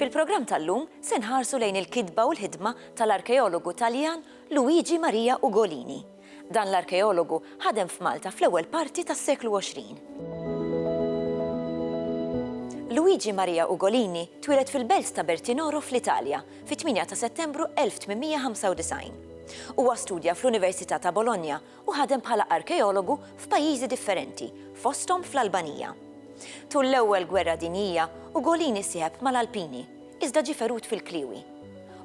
Fil-programm tal-lum se nħarsu lejn il-kitba u l-ħidma tal-arkeologu Taljan Luigi Maria Ugolini. Dan l-arkeologu ħadem f'Malta fl-ewwel parti tas-seklu 20. Luigi Maria Ugolini twieled fil-belt ta' Bertinoro fl-Italja fit-8 ta' Settembru 1895. Huwa studja fl-Università ta' Bologna u ħadem bħala arkeologu f'pajjiżi differenti, fosthom fl-Albanija. Tul l-Ewwel Gwerra Dinjija, Ugolin issieħeb mal-Alpini, iżda ġie ferut fil-kliewi.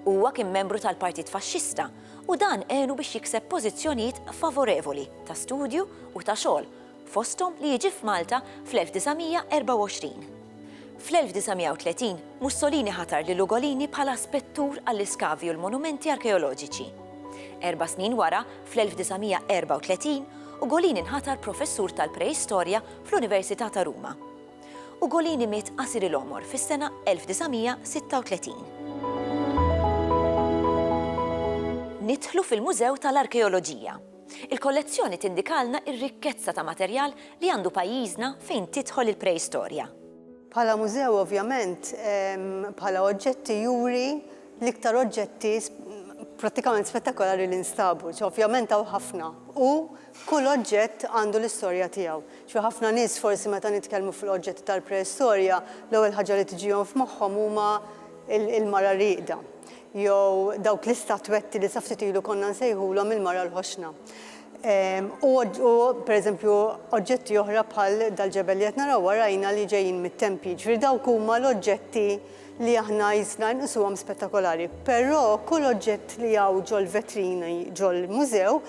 Huwa kien membru tal-Partit Faxxista u dan għenu biex jikseb pożizzjonijiet favorevoli ta' studju u ta' xogħol fosthom li jiġi f'Malta fl-1924. Fl-1930, Mussolini ħatar lil Ugolini bħala spettur għall-iskavi u l-monumenti arkeoloġiċi. Erba' snin wara, fl-1934, Ugolini nħatar professur tal-Preistorja fl-Università ta' Ruma. Ugolini miet qasir il-għomor fis-sena 1936. Nidħlu fil-Mużew tal-Arkeoloġija. Il-kollezzjoni tindikalna r-rikkezza ta' materjal li għandu pajjiżna fejn tidħol il-preistorja. Bħala mużew ovvjament bħala oġġetti juri l-iktar oġġetti prattikament spettakolari li nstabu. Ovvjament hawn ħafna u kull oġġett għandu l-istorja tiegħu. Ħafna nies forsi meta nitkellmu fuq l-oġġetti tal-preistorja l-ewwel ħaġa li tiġihom f'moħħhom huma l-mara rieqda. jew dawk l-istatwetti li sa ftit ilu konna nsejħulhom il-mara l-ħoxna. U pereżempju oġġetti oħra bħal dal-ġebel li qed naraw warajna li ġejjin mit-tempji. Jiġifieri dawk huma l-oġġetti li aħna jisna nqisuhom spettakolari. Però kull oġġett li hawn ġol-vetrini ġol-mużew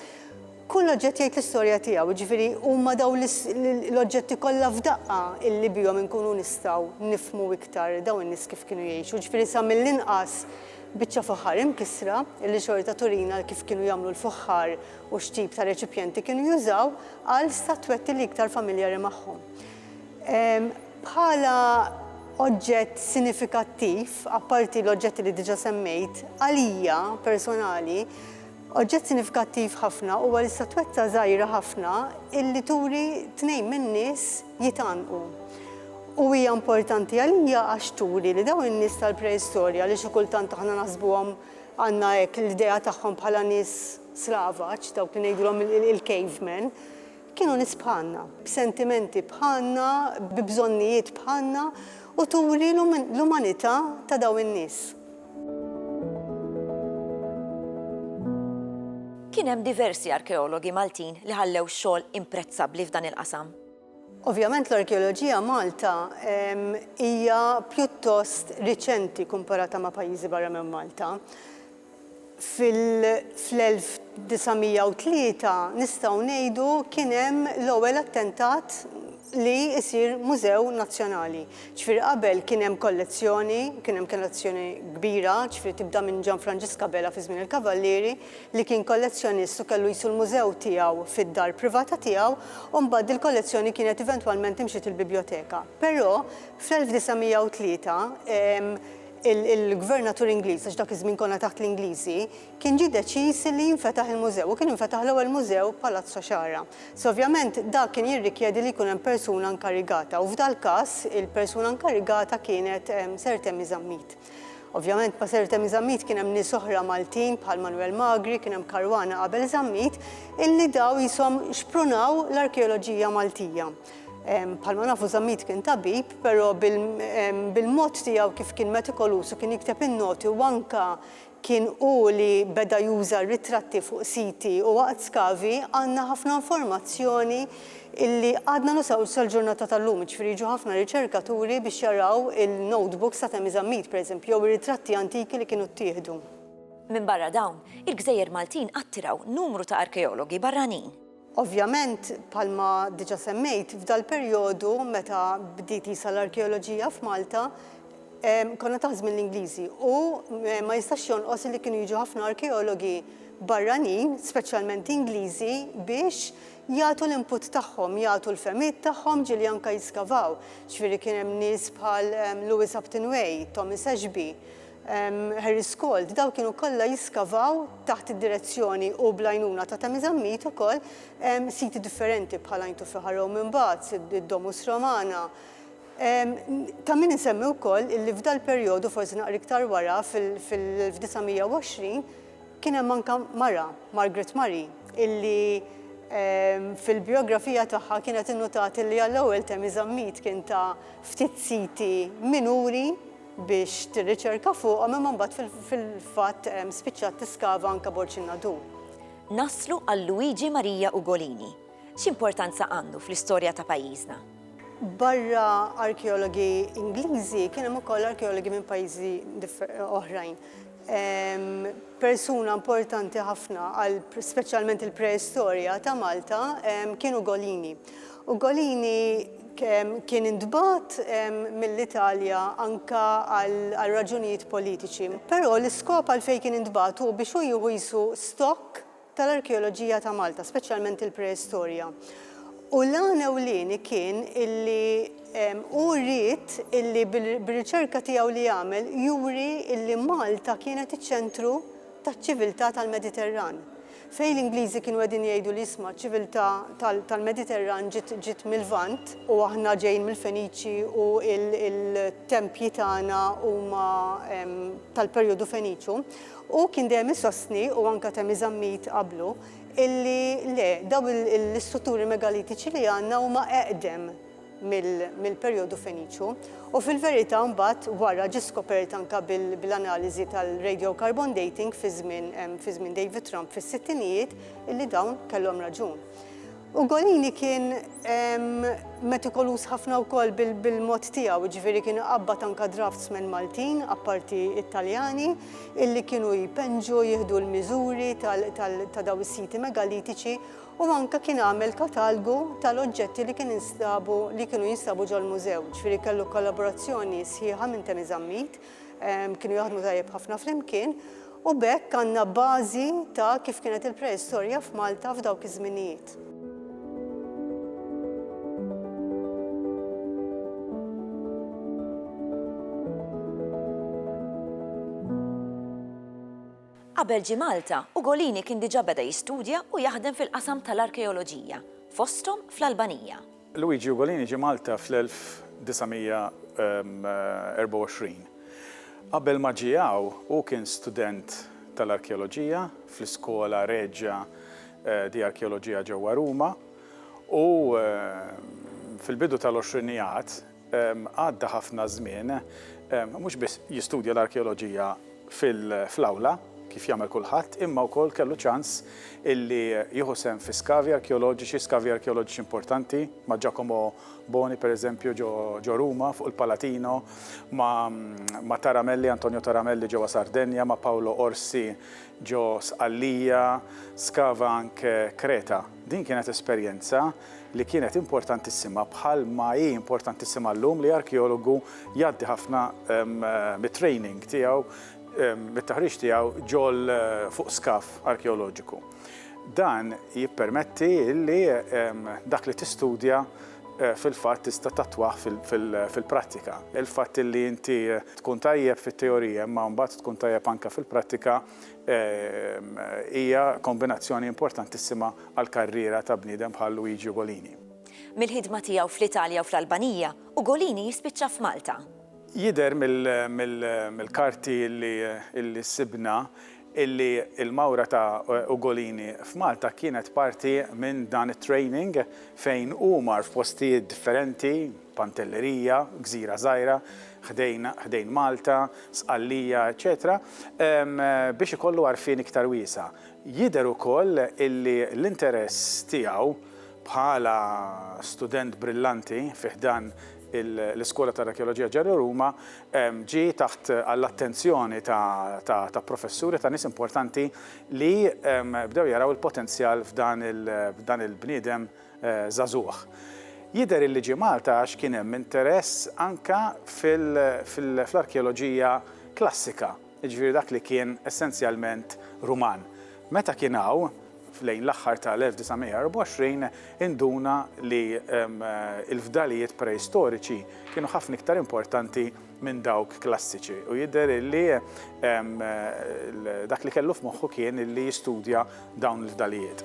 Kull oġġett jgħid l-istorja tiegħu, jiġifieri huma dawn l-oġġetti kollha f'daqqa illi bihom inkunu nistgħu nifhmu iktar dawn in-nies kif kienu jgħixu, jiġifieri sa mill-inqas biċċa fuħħar imkissra illi xorta turina kif kienu jagħmlu l-fuħħar u x'tip ta' reċipjenti kienu jużaw għal statwetti li iktar familjari magħhom. Bħala oġġett sinifikattiv, apparti l-oġġetti li diġà semmejt, għalija personali, Oġġett sinifikattiv ħafna huwa l-istatwetta żgħira ħafna illi turi tnejn min-nies jitgħannqu. U hija importanti għalija għax turi li dawn in-nies tal-preistorja li xi kultant aħna naħsbuhom għandna hekk l-idea tagħhom bħala nies slavaġ, dawk li ngħidulhom il-cavemen, Kienu nies bħalna, b'sentimenti bħalna, bi bżonnijiet bħalna, u turi l-umanità ta' dawn in-nies. Kien hemm diversi arkeologi Maltin li ħallew xogħol imprezzabbli f'dan il-qasam. Ovvjament l-arkeoloġija Malta hija pjuttost riċenti kumparata ma' pajjiżi barra minn Malta. fl-1903 nistgħu ngħidu kien hemm l-ewwel attentat li jsir mużew nazzjonali. Ġifieri qabel kien hemm kollezzjoni, kien hemm kollezzjoni kbira, ġifieri tibda minn Gian Franġisk Abela fi żmien il-Kavallieri li kien kollezzjonist u kellu qisu l-mużew tiegħu fid-dar privata tiegħu u mbagħad dil-kollezzjoni kienet eventwalment imxiet il-bibljoteka. Però fl-1903 il-Gvernatur Ingliż, għax dak iż-żmien konna taħt l-Ingliżi, kien ġie deċiż li jinfetaħ il-mużew u kien infetaħ l-ewwel mużew Palazzo Sciarra. So ovvjament dak kien jirrikjedi li jkun hemm persuna nkarigata u f'dal-każ il-persuna nkarigata kienet Sir Temi Zammit. Ovvjament ma' Sir Temi Zammit kien hemm nies oħra Maltin bħal Manwel Magri, kien hemm karwana qabel Zammit illi daw qishom xprunaw l-arkeoloġija Maltija. Bħalma nafu Zammit kien tabib, però bil-mod tiegħu kif kien metikolus u kien jikteb in-noti u anka kien hu li beda juża ritratti fuq siti u waqt skavi għandna ħafna informazzjoni illi għadna nusaw sal-ġurnata tal-lum, jiġifieri jiġu ħafna riċerkaturi biex jaraw il-notebooks ta' Temmy Zammit, pereżempju, jew ir-ritratti antiki li kienu ttieħdu. Minbarra dawn, il-gżejjer Maltin attiraw numru ta' arkeologi barranin. Ovvjament, bħalma diġà semmejt, f'dal-perjodu meta bdiet qisha l-arkeoloġija f'Malta, konna taħt żmien l-Ingliżi u ma jistax jonqos illi kienu jiġu ħafna arkeologi barranin, speċjalment Ingliżi, biex jagħtu l-input tagħhom, jagħtu l-fehmiet tagħhom ġieli anke jiskavaw. Ġifieri kien hemm nies bħal Lewis Upton Way, Thomas Ashby, Harry Scold, dawn kienu kollha jiskavaw taħt id-direzzjoni u bl-għajnuna ta' Tami Zammit ukoll siti differenti bħal Għajn Tuffiħa Rome imbagħad, id-Domus Romana. Ta' min insemmi wkoll illi f'dal-perjodu, forsi naqra iktar wara, fil-1920, kien hemm anke mara, Margaret Murray, illi fil-bijografija tagħha kienet innutat illi għall-ewwel Tami Zammit kien ta ftit siti minuri, biex tirriċerka fuqhom imma mbagħad fil-fatt spiċċat tiskava anke bord Xinnadu. Naslu għal Luigi Maria Ugolini. X'importanza għandu fl-istorja ta' pajjiżna? Barra arkeologi Ingliżi kien hemm ukoll arkeologi minn pajjiżi oħrajn. persuna importanti ħafna għal speċjalment il-preistorja ta' Malta kien Ugolini. Ugolini kien intbagħat mill-Italja anka għal raġunijiet politiċi, però l-iskop għalfejn kien intbagħat hu biex hu jieħu qisu stokk tal-arkeoloġija ta' Malta, speċjalment il-preistorja. U l-għan ewlieni kien illi hu ried illi bir-riċerka tiegħu li għamel juri illi Malta kienet iċ-ċentru taċ-ċiviltà tal-Mediterran. Fejn l-Ingliżi kienu qegħdin jgħidu li isma' ċ-ċiviltà tal-Mediterran ġiet mil-Lvant, u aħna ġejjin mill-Feniċi u l-tempji tagħna huma tal-perjodu Feniċu, Hu kien dejjem isostni, u anke Temi Zammit qablu, illi le, dawn l-istrutturi megalitiċi li għandna huma eqdem mill-perjodu Feniċju. U fil-verità mbagħad wara ġie skopert anke bil-analiżi tal-radiocarbon dating fi żmien David Trump fis-sittinijiet illi dawn kellhom raġun. Ugolini kien metikoluż ħafna wkoll bil-mod tiegħu, jiġifieri kien iqabbad anke draftsmen Maltin, apparti t-Taljani, illi kienu jpenġu, jieħdu l-miżuri ta' dawn is-siti megalitiċi u anke kien għamel katalgu tal-oġġetti li kienu jinstabu ġol-mużew, jiġifieri kellu kollaborazzjoni sħiħa minn Temi Zammit. Kienu jaħdmu tajjeb ħafna flimkien u b'hekk għandna bażi ta' kif kienet il-preistorja f'Malta f'dawk iż-żminijiet. Qabel ġie Malta, Ugolini kien diġà beda jistudja u jaħdem fil-qasam tal-arkeoloġija, fosthom fl-Albanija. Luigi Ugolini ġie Malta fl-1924. Qabel ma ġie hawn, hu kien student tal-arkeoloġija fl-Iskola Regia di Archeologia ġewwa Ruma u fil-bidu tal-għoxrinijat, għadda ħafna żmien, mhux biss jistudja l-arkeoloġija fl-awla, kif jagħmel kulħadd, imma wkoll kellu ċans illi jieħu sehem fi skavi arkeoloġiċi, skavi arkeoloġiċi importanti, ma' Giacomo Boni, pereżempju, ġo Ruma, fuq il-Palatino, ma' Taramelli, Antonio Taramelli, ġewwa Sardenja, ma' Paolo Orsi, ġo Sqallija, skava anke Kreta. Din kienet esperjenza. li kienet importantissima bħal ma hi importantissima llum li arkeologu jgħaddi ħafna mit-training tiegħu mit-taħriġ tiegħu ġol fuq skaf arkeoloġiku. Dan jippermetti li dak li tistudja Eh, fil-fatt tista' tatwaħ fil-prattika. Il-fatt li inti eh, tkun tajjeb fit-teorija imma mbagħad tkun tajjeb anke fil-prattika eh, hija kombinazzjoni importantissima għall-karriera ta' bniedem bħal Luigi Ugolini. Mill-ħidma tiegħu fl-Italja u fl-Albanija, Ugolini jispiċċa f'Malta. Jidher mill-karti li sibna illi l-mawra ta' Ugolini f'Malta kienet parti minn dan it-training fejn hu mar f'postijiet differenti, Pantelleria, gżira żgħira ħdejn Malta, Sqallija, eċċetera biex ikollu għarfien iktar wiesa'. Jidher ukoll illi l-interess tiegħu bħala student brillanti fi ħdan l-Iskola tal-Arkeoloġija Ġerro Ruma ġie taħt għall-attenzjoni ta' professuri, ta' nies importanti li bdew jaraw il-potenzjal f'dan il-bniedem żagħżugħ. Jidher illi ġie Malta għax kien hemm interess anke fl-arkeoloġija klassika. jiġifieri dak li kien essenzjalment Ruman. Meta kien hawn, lejn l-aħħar tal-1924, induna li l-fdalijiet preistoriċi kienu ħafna iktar importanti minn dawk klassiċi u jidher li dak li kellu f'moħħu kien li jistudja dawn il-fdalijiet.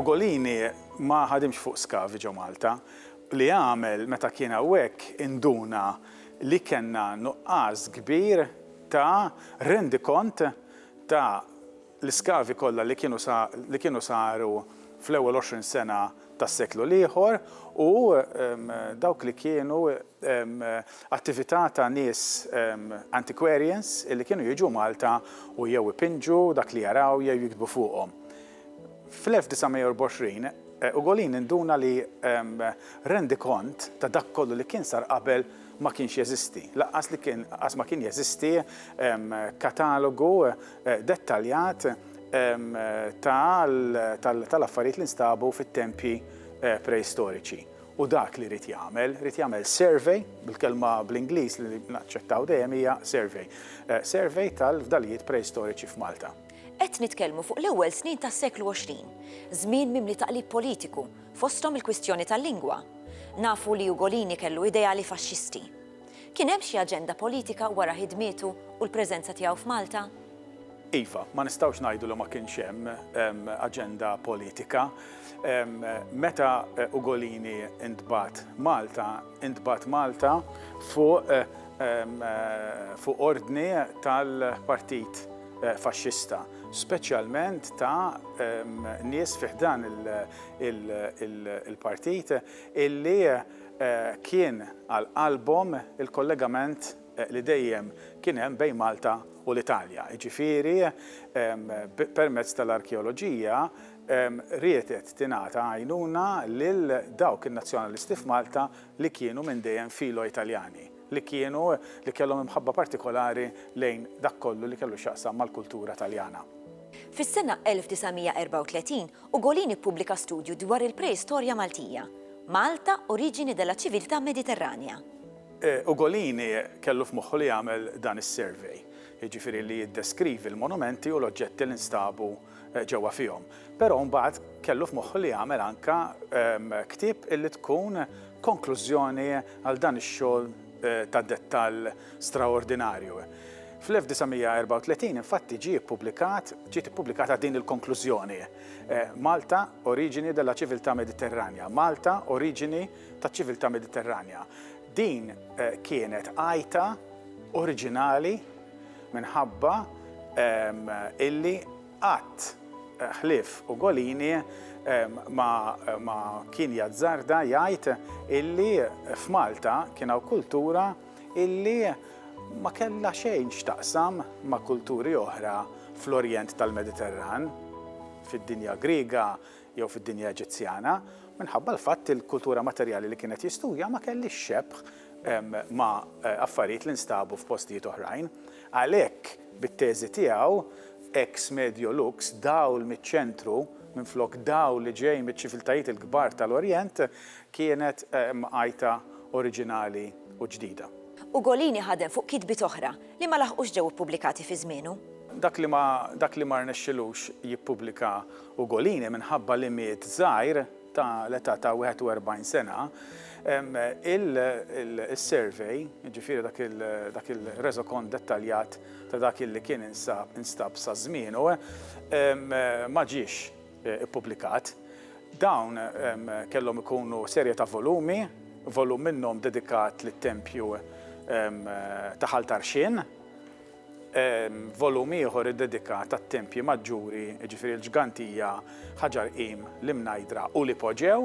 Ugolini ma ħadimx fuq skavi ġo Malta, li għamel meta kien hawnhekk induna li kellna nuqqas kbir ta' rendikont ta' l-iskavi kollha li kienu li kienu saru fl-ewwel għoxrin sena tas-seklu l-ieħor u dawk li kienu attività ta' nies antiquarians li kienu jiġu Malta u jew ipinġu dak li jaraw jew jiktbu fuqhom. Fl-1924, Ugolin induna li rendikont ta' dak kollu li kien sar qabel ma kienx jeżisti, lanqas li kien qas ma kien jeżisti katalogu dettaljat tal-affarijiet li nstabu fit-tempji preistoriċi. U dak li ried jagħmel, ried jagħmel survey, bil-kelma bl-Ingliż li naċċettaw dejjem hija survey, survey tal-fdalijiet preistoriċi f'Malta. Qed nitkellmu fuq l-ewwel snin tas-seklu 20, żmien mimli taqlib politiku, fosthom il-kwistjoni tal-lingwa. Nafu li Ugolini kellu ideali faxxisti. Kien hemm xi aġenda politika wara ħidmietu u l-preżenza tiegħu f'Malta? Iva, ma nistgħux ngħidu li ma kienx hemm aġenda politika. Meta Ugolini ntbagħat Malta, intbagħat Malta fuq ordni tal-Partit faxxista, speċjalment ta' nies fi ħdan il-partit illi kien għal qalbhom il-kollegament li dejjem kien hemm bejn Malta u l-Italja, jiġifieri permezz tal-arkeoloġija riedet tingħata għajnuna lil dawk in-nazzjonalisti f'Malta li kienu minn dejjem filo-Italjani. li kienu li kellhom imħabba partikolari lejn dak kollu li kellu x'jaqsam mal-kultura Taljana. Fis-sena 1934, Ugolin ippubblika studju dwar il-preistorja Maltija, Malta, Origine della civiltà mediterranea. Ugolin kellu f'moħħu li jagħmel dan is-survey, jiġifieri li jiddeskrivi l-monumenti u l-oġġetti li nstabu ġewwa fihom. Però mbagħad kellu f'moħħu li jagħmel anke ktieb li tkun konklużjoni għal dan ix-xogħol ta' dettall straordinarju. Fl-1934 infatti ġie ppubblikat, ġiet ippubblikata din il-konklużjoni, Malta, origine della civiltà mediterranea, Malta, oriġini taċ-ċiviltà Mediterranja. Din kienet għajta oriġinali Minħabba illi qatt ħlief Ugolini ma kien jazzarda jgħid illi f'Malta kien hawn kultura illi ma kellha xejn x'taqsam ma' kulturi oħra fl-Orjent tal-Mediterran, fid-dinja Griega jew fid-dinja Eġizzjana, minħabba l-fatt li l-kultura materjali li kien qed jistudja ma kellhiex xebh ma' affarijiet li nstabu f'postijiet oħrajn. Għalhekk, bit-teżi tiegħu, Ex medio lux, dawl miċ-ċentru minflok dawl li ġej miċ-ċiviltajiet il-kbar tal-Orjent, kienet mqajta oriġinali u ġdida. Ugolini ħadem fuq kitbiet oħra li ma laħqux ġew ippubblikati fi żmienu. Dak li ma rnexxilux jippubblika Ugolini minħabba li miet żgħir ta' l-età ta' 41 sena, il-survey, jiġifieri dak il-reżokont dettaljat ta' dak li kien instab sa żmienu, ma ġiex ippubblikat. Dawn kellhom ikunu serje ta' volumi, volum minnhom dedikat lit-tempju ta' Ħal Tarxien. Volum ieħor iddedikat għat-tempji maġġuri, jiġifieri l-Ġgantija, Ħaġar Qim, l-Imnajdra u l-Ipoġew,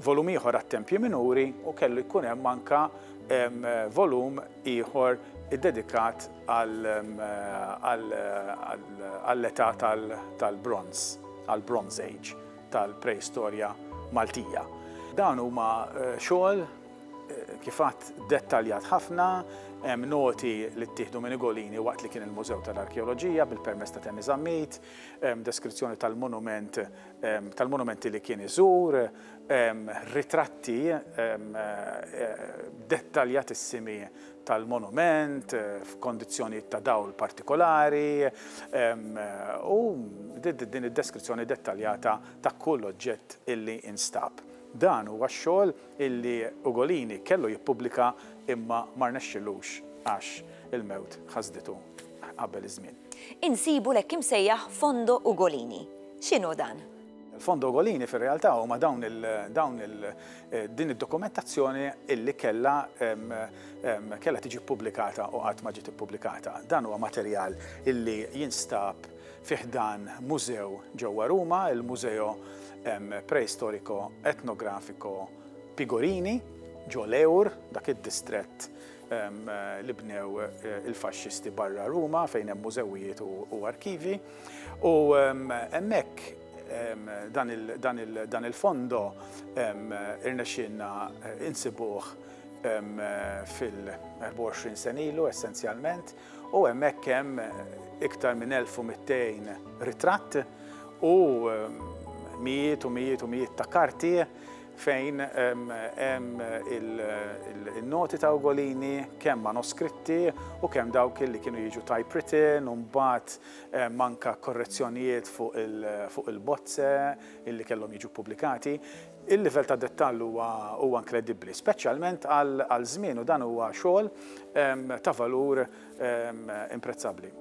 volum ieħor għat-tempji minuri u kellu jkun hemm anke volum ieħor iddedikat għall-età tal-bronż, għall-Bronze Age tal-preistorja Maltija. Dawn huma xogħol Kif għadt, dettaljat ħafna, hemm noti li ttieħdu minn Igolini waqt li kien il-Mużew tal-Arkeoloġija bil-permess ta' Temi Zammit, deskrizzjoni tal-monument, tal-monumenti li kien iżur, ritratti dettaljatissimi tal-monument f'kondizzjonijiet ta' dawl partikolari, u din id-deskrizzjoni dettaljata ta' kull oġġett illi instab. Dan huwa x-xogħol illi Ugolini kellu jippubblika imma ma rnexxilux għax il-mewt ħasditu qabel iż-żmien. Insibu l-hekk imsejjaħ Fondo Ugolini. X'inhu dan? Il-Fondo Ugolini fir-realtà huma dawn il dawn il din id-dokumentazzjoni illi kellha kellha tiġi ppubblikata u qatt ma ġiet ippubblikata. Dan huwa materjal illi jinstab fi ħdan mużew ġewwa Ruma, il-Museo Preistorico Etnografico Pigorini, ġo Lewr, dak id-distrett li bnew il-Faxxisti barra Ruma fejn hemm mużewijiet u arkivji. U hemmhekk dan il-fondo irnexxielna insibuh fil-24 sena ilu essenzjalment. U hemmhekk hemm iktar minn 1,200 ritratt u mijiet u mijiet u mijiet ta' karti fejn hemm il-noti ta' Ugolini, kemm manoskritti u kemm dawk li kienu jiġu typewritten u mbagħad anke korrezzjonijiet fuq il-bozze li kellhom jiġu ppubblikati. Il-livell ta' dettall huwa huwa inkredibbli, speċjalment għal għal żmien u dan huwa xogħol ta' valur imprezzabbli.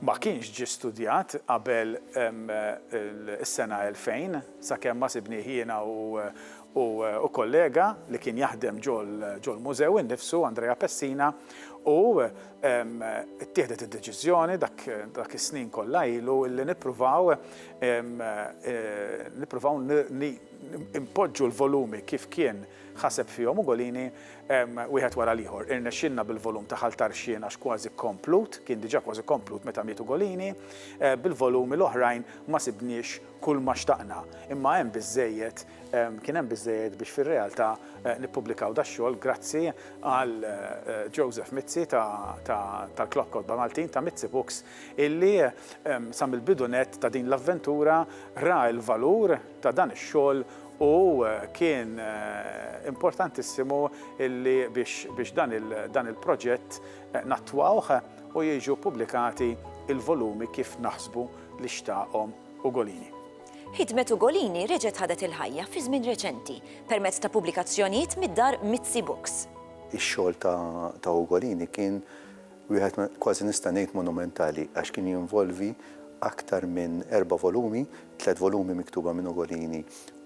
Ma kienx ġie studjat qabel is-sena 2000 sakemm ma sibnih jiena u kollega li kien jaħdem ġol-mużew innifsu, Andrea Pessina, u Ittieħdet id-deċiżjoni dak is-snin kollha ilu li nippruvaw nippruvaw npoġġu l-volumi kif kien ħaseb fihom Ugolini wieħed wara l-ieħor. Irnexxielna bil-volum ta' Ħal Tarxien għax kważi komplut, kien diġà kważi komplut meta miet Ugolini, bil-volumi l-oħrajn ma sibniex kulma xtaqna, imma hemm biżżejjed Kien hemm biżżejjed biex fir-realtà nippubblikaw dax-xogħol grazzi għal Joseph Mizzi tal-Club Kotba Maltin ta' Mizzi Books illi sa mill-bidu nett ta' din l-avventura ra l-valur ta' dan ix-xogħol u kien importantissimu illi biex dan il-proġett nattwawh u jiġu ppubblikati l-volumi kif naħsbu li xtaqhom Ugolini. Ħidmet Ugolini reġgħet ħadet il-ħajja fi żmien reċenti permezz ta' pubblikazzjonijiet mid-dar Mizzi Books. Ix-xogħol ta' Ugolini kien wieħed kważi nista' ngħid monumentali għax kien jinvolvi aktar minn erba' volumi, tliet volumi miktuba minn Ugolini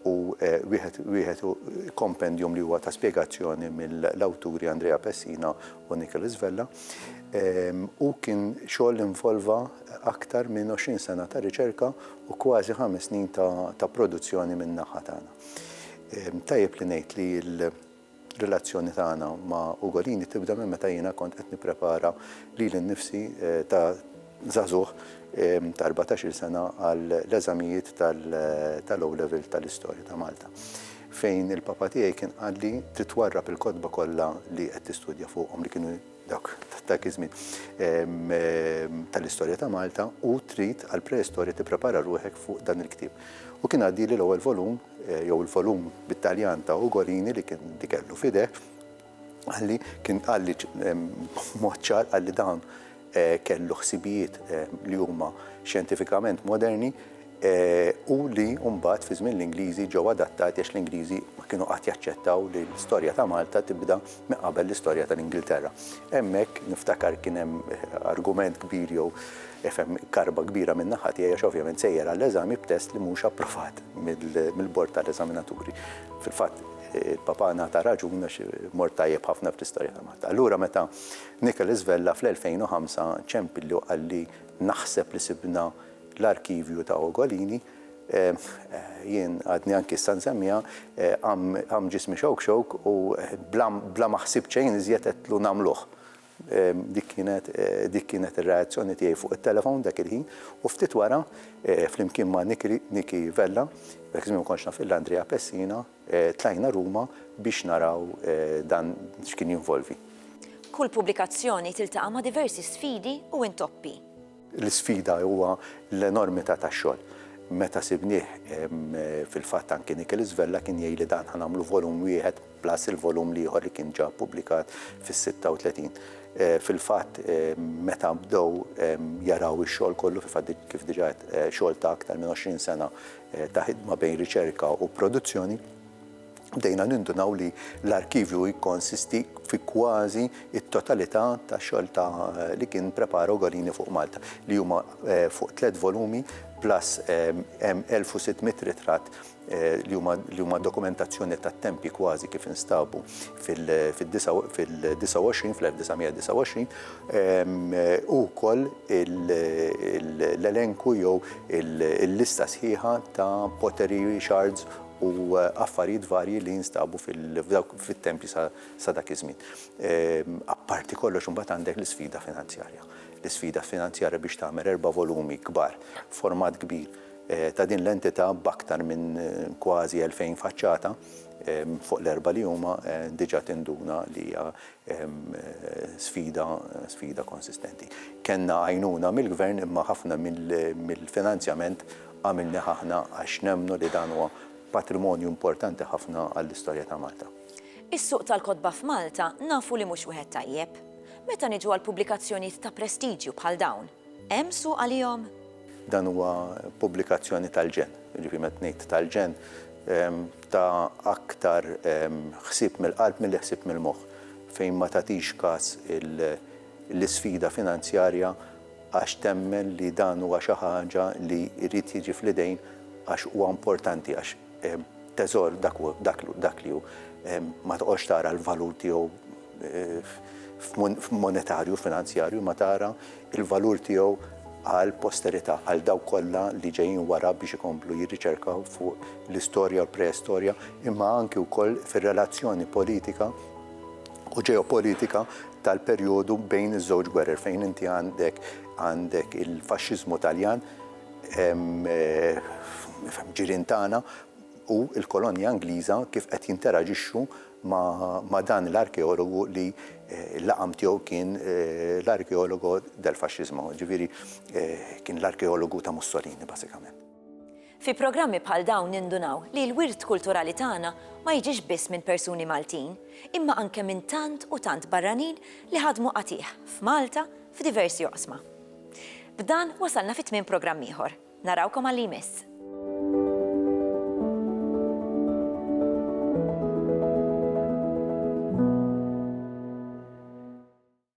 u wieħed wieħed kompendjum li huwa ta' spjegazzjoni mill-awturi Andrea Pessina u Nicholas Vella. Hu kien xogħol li involva aktar minn 20 sena ta' riċerka u kważi ħames snin ta' produzzjoni min-naħa tagħna. Tajjeb li ngħid li l-relazzjoni tagħna ma' Ugolini tibda minn meta jiena kont qed nipprepara lili nnifsi ta' żagħżugħ ta' erbatax-il sena għall-eżamijiet tal-O-Level tal-Istorja ta' Malta, fejn il-papa tiegħi kien qalli trid twarrab il-kotba kollha li qed tistudja fuqhom li kienu dawk ta' dak iż-żmien, tal-istorja ta' Malta u trid għall-preistorja tipprepara ruħek fuq dan il-ktieb. U kien għaddieli l-ewwel volum, jew il-volum bit-Taljan ta' Ugolini li kien li kellu f'idejh, qalli, kien qalli b'mod ċar, qalli dan kellu ħsibijiet li huma xjentifikament moderni, u li mbagħad fi żmien l-Ingliżi ġew adattati għax l-Ingliżi ma kienu qatt jaċċettaw li l-istorja ta' Malta tibda minn qabel l-istorja tal-Ingilterra. Hemmhekk niftakar kien hemm argument kbir jew ifhem karba kbira minn naħa tiegħi għax ovvjament sejjer għall-eżami b'test li mhux approvat mill-bord tal-eżaminaturi. Fil-fatt il-Papa ngħata raġun għax mort tajjeb ħafna fl-istorja ta' Malta. Allura meta Nicholas Vella fl-2005 ċempilli u qalli naħseb li sibna l-arkivju ta' Ugolini, jien għadni anki issa nsemmiha, qamm ġismi xewk xewk u bla ma ħsibt xejn iżjed għedtlu nagħmluh. Dik kienet dik kienet ir-reazzjoni tiegħi fuq it-telefon dak il-ħin u ftit wara, flimkien ma' Niki Vella, dak iż-żmien ma kontx naf illa Andrea Pessina, tlajna Ruma biex naraw dan x'kien jinvolvi. Kull pubblikazzjoni tiltaqa' ma' diversi sfidi u intoppi. L-isfida huwa l-enormità tax-xogħol. Meta sibnieh, fil-fatt anki Nicholas Vella kien jgħidli dan ħa nagħmlu volum wieħed plus il-volum l-ieħor li kien ġa ppubblikat fis-36. Fil-fatt meta bdew jaraw ix-xogħol kollu, fil-fatt kif diġà għedt xogħol ta' aktar minn 20 sena ta' ħidma bejn riċerka u produzzjoni, bdejna nindunaw li l-arkivju jikkonsisti fi kważi t-totalità tax-xogħol ta' li kien prepara Ugolini fuq Malta, li huma eh, fuq tliet volumi plus eh, hemm 1600 ritratt eh, li huma dokumentazzjoni tat-tempi kważi kif instabu fil-29 fl-1929 u wkoll l-elenku jew il-lista sħiħa ta' pottery shards u affarijiet varji li jinstabu fit-tempji sa dak iż-żmien. Apparti kollox imbagħad għandek l-isfida finanzjarja. L-isfida finanzjarja biex tagħmel erba' volumi kbar, format kbir, ta' din l-entità b'aktar minn kważi elfejn faċċata fuq l-erbgħa li huma diġà tinduna li hija sfida konsistenti. Kellna għajnuna mill-Gvern imma ħafna mill-finanzjament Għamilnieh aħna għax nemmnu li dan huwa patrimonju importanti ħafna għall-istorja ta' Malta. Is-suq tal-kotba f'Malta nafu li mhux wieħed tajjeb. Meta niġu għal pubblikazzjonijiet ta' prestiġju bħal dawn, hemm suq għalihom? Dan huwa pubblikazzjoni tal-ġenn, jiġifieri meta ngħid tal-ġenn, ta' aktar ħsieb mill-qalb milli ħsieb mill-moħħ, fejn ma tagħtix kas l-isfida finanzjarja, għax temmen li dan huwa xi ħaġa li jrid jiġi fl-idejn għax huwa importanti għax teżor dak hu dak dak li hu ma toqgħodx tara l-valur tiegħu f'monetarju finanzjarju ma tara l-valur tiegħu għall-posterità għal dawk kollha li ġejjin wara biex ikomplu jirriċerkaw fuq l-istorja u l-preistorja imma anki wkoll fir-relazzjoni politika u ġeopolitika tal-perjodu bejn iż-żewġ gwerer fejn inti għandek għandek il-faxxiżmu Taljan ġirien tagħna u l-kolonja Ingliża kif qed jinteraġixxu ma' dan l-arkeologu li l-laqam tiegħu kien l-arkeologo del fascismo, jiġifieri kien l-arkeologu ta' Mussolini bażikament. Fi programmi bħal dawn nindunaw li l-wirt kulturali tagħna ma jiġix biss minn persuni Maltin, imma anke minn tant u tant barranin li ħadmu qatigħ f'Malta f'diversi oqsma. B'dan wasalna fi tmiem programm ieħor. Narawkom għal li jmiss.